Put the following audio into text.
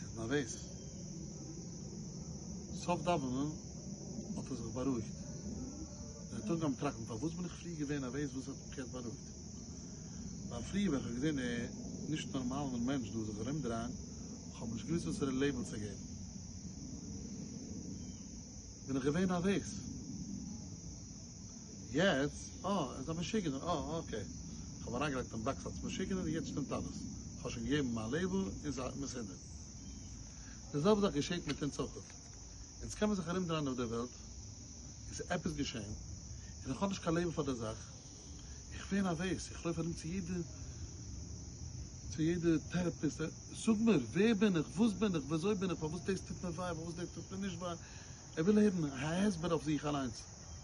איז נערוועז. סוף דאווענען האט ער זיך בארואיגט. ער האט אנגעהויבן טראכטן, פארוואס בין איך פריער געווען נערוועז וואס האט מיך יעצט בארואיגט? ווייל פריער ווען איך האב געזען די נישט נארמאלער מענטש דא זיך ארומדרייען, כ'האב נישט געוואוסט וואסערע לעיבל צו געבן, בין איך געווען נערוועז. יעצט, אה, ער איז א משוגענער, אה, אקעי. כ'האב אים אריינגעלייגט אין באקס אלץ משוגענער און יעצט שטימט אלעס. כ'האב שוין געגעבן מיין לעיבל און ס'איז מסודר. די זעלבע זאך געשעט מיט אונז אויך. אונז קען מען זיך ארומדרייען אויף דער וועלט און ס'איז עפעס געשען און איך האב נישט קיין לעיבל פאר דער זאך. איך ווער נערוועז, איך לויף ארום צו יעדע צו יעדע טערעפיסט, זאג מיר, ווער בין איך, וואס בין איך, וויאזוי בין איך, פארוואס דאס טוט מיר וויי, פארוואס דאס טוט מיר נישט וויי. ער וויל הערן א הסבר אויף זיך אליינס.